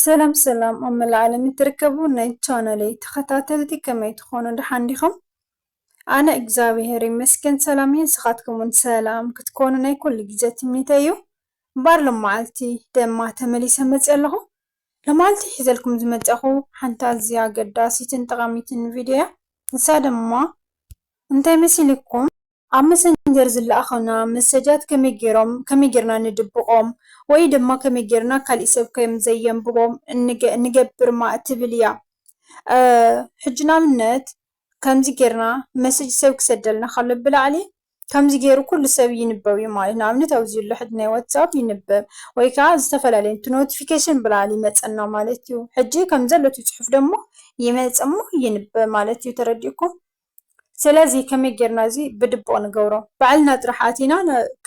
ሰላም ሰላም ኣብ መላእ ዓለም እትርከቡ ናይ ቻነለይ ተኸታተልቲ ከመይ ትኾኑ ደሓን ዲኹም? ኣነ እግዚኣብሄር ይመስገን ሰላም እየ። ንስኻትኩምን ሰላም ክትኮኑ ናይ ኩሉ ግዜ ትምኒተይ እዩ። እምበኣር ሎማዓልቲ ደማ ተመሊሰ መፅእ ኣለኹ። ሎማዓልቲ ሒዘልኩም ዝመፀኹ ሓንቲ ኣዝያ ኣገዳሲትን ጠቓሚትን ቪድዮ እያ። ንሳ ድማ እንታይ መሲልኩም? ኣብ መሰንጀር ዝለኣኹልና መሰጃት ከመይ ጌሮም ከመይ ጌርና ንድብቖም ወይ ድማ ከመይ ጌርና ካሊእ ሰብ ከም ዘየንብቦም ንገብር እማ እትብል እያ ሕጂ ንኣብነት ከምዚ ጌርና መሰጅ ሰብ ክሰደልና ከሎ ብላዕሊ ከምዚ ጌሩ ኩሉ ሰብ ይንበብ እዩ ማለት ንኣብነት ኣብዚ ዘሎ ሕጂ ናይ ዋትሳፕ ይንበብ ወይ ከኣ ዝተፈላለየ እቲ ኖቲፊኬሽን ብላዕሊ ይመጸና ማለት እዩ ሕጂ ከም ዘሎ እቲ ጽሑፍ ደሞ ይመጽ እሞ ይንበብ ማለት እዩ ተረዲእኩም። ስለዚ ከመይ ጌርና እዚ ብድቡቕ ንገብሮ ባዕልና ጥራሕ ኣቲና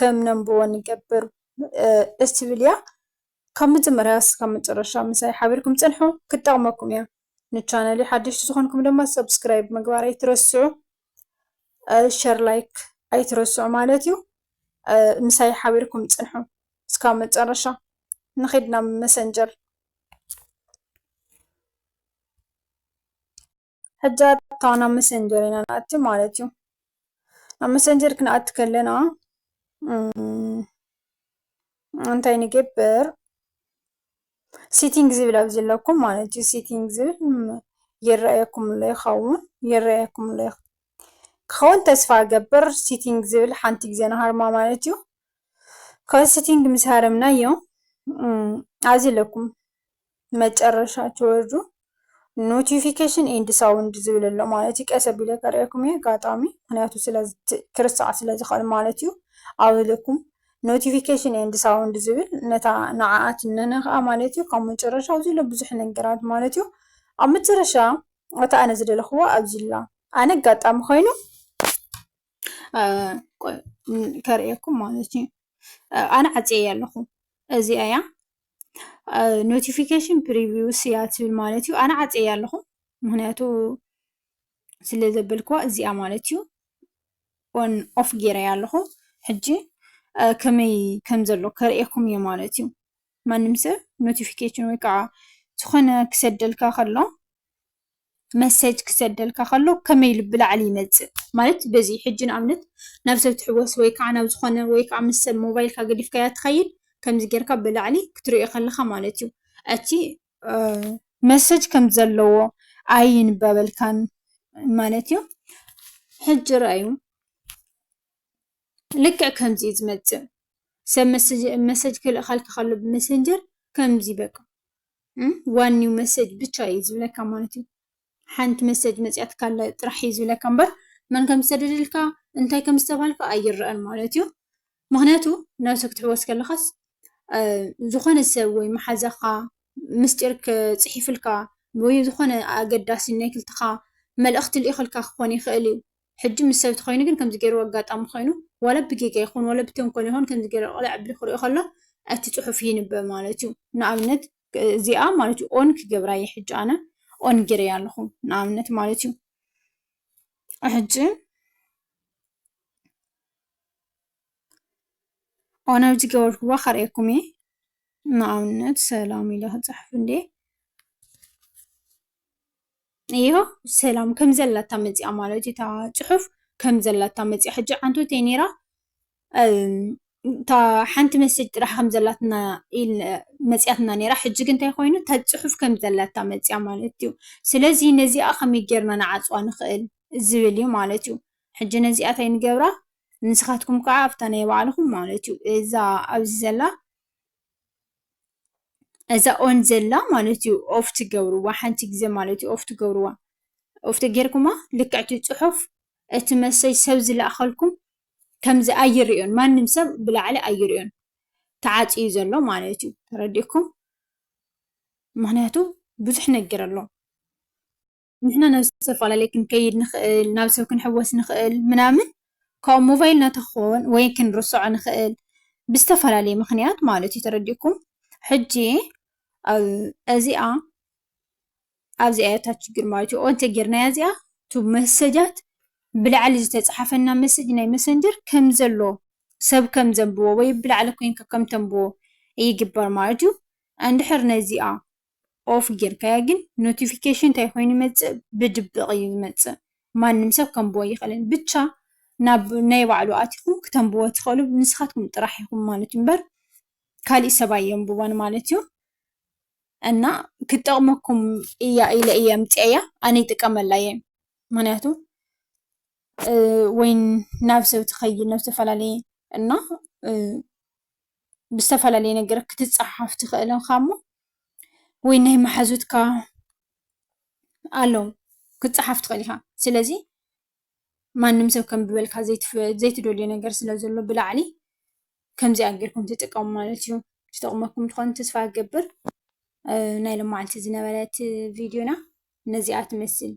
ከም ነንብቦ ንገብር እትብል እያ ካብ መጀመርያ ክሳብ መጨረሻ ምሳይ ሓቢርኩም ጽንሑ ክትጠቕመኩም እያ ንቻነለይ ሓደሽቲ ዝኾንኩም ድማ ሳብስክራይብ ምግባር ኣይትረስዑ ሸር ላይክ ኣይትረስዑ ማለት እዩ ምሳይ ሓቢርኩም ጽንሑ እስካብ መጨረሻ ንኺድ ናብ መሰንጀር ሕጂ ኣታ ናብ መሰንጀር ኢና ንኣቲ ማለት እዩ ናብ መሰንጀር ክንኣቲ ከለና እንታይ ንገብር ሲቲንግ ዝብል ኣብዚ ኣለኩም ማለት እዩ ሲቲንግ ዝብል ይረኣየኩም ኣሎ ይከውን ይረኣየኩም ኣሎ ክከውን ተስፋ ይገብር ሲቲንግ ዝብል ሓንቲ ግዜ ንሃርማ ማለት እዩ ካብ ሲቲንግ ምስ ሃረምናዮ ኣብዚ ኣለኩም። መጨረሻ ትወርዱ ኖቲፊኬሽን ኤንድ ሳውንድ ዝብል ኣሎ ማለት እዩ። ቀስ ኣቢለ ከርእየኩም እየ ኣጋጣሚ ምክንያቱ ክርሳዕ ስለ ዝኽእል ማለት እዩ። ኣብ ኢለኩም ኖቲፊኬሽን ኤንድ ሳውንድ ዝብል ነታ ንዓኣ ትነካኣ ማለት እዩ። ካብ መጨረሻ ኣብዚ ዘሎ ብዙሕ ነገራት ማለት እዩ። ኣብ መጨረሻ እታ ኣነ ዝደለኽዋ ኣብዚ ኣላ። ኣነ ኣጋጣሚ ኮይኑ ቆይ ከርእየኩም ማለት እዩ። ኣነ ዓፅየያ ኣለኹ እዚኣ እያ። ኖቲፊኬሽን ፕሪቪውስ እያ ትብል ማለት እዩ ኣነ ዓፅየ እያ ኣለኩ ምክንያቱ ስለ ዘበልኩዋ እዚኣ ማለት እዩ ኦን ኦፍ ገይረያ ኣለኩ ሕጂ ከመይ ከም ዘሎ ከርእየኩም እየ ማለት እዩ ማንም ሰብ ኖቲፊኬሽን ወይ ከዓ ዝኮነ ክሰደልካ ከሎ መሰጅ ክሰደልካ ከሎ ከመይ ኢሉ ብላዕሊ ይመጽእ ማለት በዚ ሕጂ ንኣብነት ናብ ሰብ ትሕወስ ወይ ከዓ ናብ ዝኾነ ወይ ከዓ ምስ ሰብ ሞባይልካ ገዲፍካያ ትኸይድ ከምዚ ጌርካ ብላዕሊ ክትርእዮ ከለኻ ማለት እዩ እቲ መሰጅ ከም ዘለዎ ኣይንበበልካን ማለት እዩ። ሕጂ ርኣዩ ልክዕ ከምዚ እዩ ዝመጽእ ሰብ መሰጅ ክልእኸልካ ከሎ ብመሰንጀር ከምዚ በቃ። ዋኒን መሰጅ ብቻ እዩ ዝብለካ ማለት እዩ። ሓንቲ መሰጅ መፂኣትካ ኣላ ጥራሕ እዩ ዝብለካ እምበር መን ከም ዝሰደደልካ እንታይ ከም ዝተብሃልካ ኣይረኣን ማለት እዩ። ምኽንያቱ ነብሲ ክትሕወስ ከለኻስ ዝኾነ ሰብ ወይ መሓዛኻ ምስጢር ፅሒፍልካ ወይ ዝኾነ ኣገዳሲ ናይ ክልተኻ መልእኽቲ ልኢኽልካ ክኾን ይኽእል እዩ። ሕጂ ምስ ሰብ ተኾይኑ ግን ከምዚ ጌርዎ ኣጋጣሚ ኮይኑ ዋላ ብጌጋ ይኹን ዋላ ብተንኮል ይኹን ከምዚ ጌሩ ቕልዕ ኣቢሉ ክሪኦ ከሎ እቲ ጽሑፍ ይንበብ ማለት እዩ። ንኣብነት እዚኣ ማለት እዩ ኦን ክገብራ እየ ሕጂ ኣነ ኦን ጌረያ ኣለኹ ንኣብነት ማለት እዩ ሕጂ ኦን ኣብ ዝገበርኩዋ ከርእየኩም እየ ንኣብነት ሰላም ኢለ ክጽሕፍ እንዴ እዮ ሰላም ከም ዘላታ መጺኣ ማለት እዩ እታ ጽሑፍ ከም ዘላታ መጺኣ ሕጂ ዓንተይቲ እያ ኔራ እታ ሓንቲ መሴጅ ጥራሕ ከም ዘላትና መጺኣትና ኔራ ሕጂ ግን እንታይ ኮይኑ እታ ጽሑፍ ከም ዘላታ መጺኣ ማለት እዩ ስለዚ ነዚኣ ከመይ ጌርና ንዓጽዋ ንኽእል ዝብል እዩ ማለት እዩ ሕጂ ነዚኣ እንታይ ንገብራ ንስኻትኩም ከኣ ኣብታ ናይ ባዕልኹም ማለት እዩ እዛ ኣብዚ ዘላ እዛ ኦን ዘላ ማለት እዩ ኦፍ ትገብርዋ ሓንቲ ግዜ ማለት እዩ ኦፍ ትገብርዋ ኦፍ ተጌርኩማ ልክዕ እቲ ፅሑፍ እቲ መሴጅ ሰብ ዝለኣኸልኩም ከምዚ ኣይርእዮን ማንም ሰብ ብላዕሊ ኣይርእዮን ተዓፅዩ እዩ ዘሎ ማለት እዩ ተረዲእኩም ምኽንያቱ ብዙሕ ነገር ኣሎ። ንሕና ናብ ዝተፈላለየ ክንከይድ ንኽእል፣ ናብ ሰብ ክንሕወስ ንኽእል ምናምን ካብ ሞባይልና ተኾን ወይ ክንርስዖ ንኽእል ብዝተፈላለየ ምኽንያት ማለት እዩ ተረዲእኩም? ሕጂ እዚኣ ኣብዚኣ እያ እታ ችግር ማለት እዩ ኦን እንተጌርናያ እዚኣ እቲ መሰጃት ብላዕሊ ዝተጻሓፈልና መሰጅ ናይ መሰንጀር ከም ዘሎ ሰብ ከም ዘንብቦ ወይ ብላዕሊ ኮንካ ከም ተንብቦ ይግበር ማለት እዩ። እንድሕር ነዚኣ ኦፍ ጌርካዮ ግን ኖቲፊኬሽን እንታይ ኮይኑ ይመጽእ ብድብቅ እዩ ዝመጽእ ማንም ሰብ ከንብቦ ኣይክእልን ብቻ ናብ ናይ ባዕሉ ኣቲኩም ክተንብቦ ትክእሉ ንስካትኩም ጥራሕ ኢኩም ማለት እዩ እምበር ካሊእ ሰብ ኣየንብቦን ማለት እዩ እና ክትጠቅመኩም እያ ኢለ እየ ኣምጺኣያ ኣነ ይጥቀመላ እየ ምክንያቱ ወይ ናብ ሰብ ትከይድ ናብ ዝተፈላለየ እና ብዝተፈላለየ ነገር ክትፀሓፍ ትኽእል ኢኻ እሞ ወይ ናይ መሓዙትካ ኣለው ክትፀሓፍ ትኽእል ኢኻ። ስለዚ ማንም ሰብ ከንብበልካ ዘይትደልዮ ነገር ስለ ዘሎ ብላዕሊ ከምዚኣ ጌርኩም ተጠቀሙ ማለት እዩ። ትጠቕመኩም ትኾን ተስፋ ይገብር። ናይ ሎማዓንቲ ዝነበረት ቪድዮና ነዚኣ ትመስል።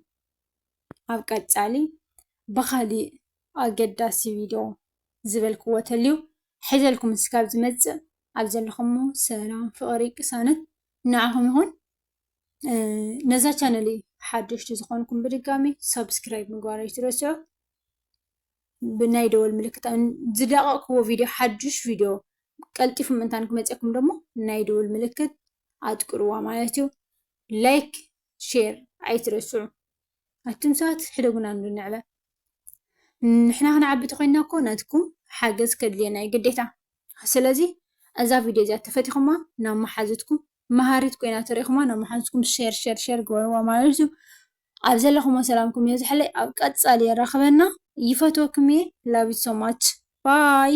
ኣብ ቀፃሊ ብኻሊእ ኣገዳሲ ቪድዮ ዝበልክዎ ተልዩ ሒዘልኩም እስካብ ዝመጽእ ኣብ ዘለኩሞ ሰላም ፍቅሪ ቅሳነት ንዓኩም ይኩን ነዛ ቻነለይ ሓደሽቲ ዝኮንኩም ብድጋሚ ሳብስክራይብ ምግባር ኣይትረስዑ ብናይ ደወል ምልክት ዝለቀቅክዎ ቪድዮ ሓዱሽ ቪድዮ ቀልጢፉ ምእንታን ክመፅኩም ደሞ ናይ ደወል ምልክት ኣጥቅርዋ ማለት እዩ ላይክ ሼር ኣይትረስዑ ኣቱም ሰባት ሕደጉና እንዶ ንዕበ ንሕና ክንዓቢ እንተኮይና እኮ ናትኩም ሓገዝ ከድልየና እዩ ግዴታ ስለዚ እዛ ቪድዮ እዚኣ ተፈቲኹማ ናብ መሓዙትኩም መሃሪት ኮይና ተሪኢኹማ ናብ መሓዙትኩም ሸር ሸር ሸር ግበርዋ ማለት እዩ ኣብ ዘለኹሞ ሰላምኩም የብዝሐለይ ኣብ ቀጻሊ የራኽበና ይፈትወኩም እየ ላቭ ዩ ሶ ማች ባይ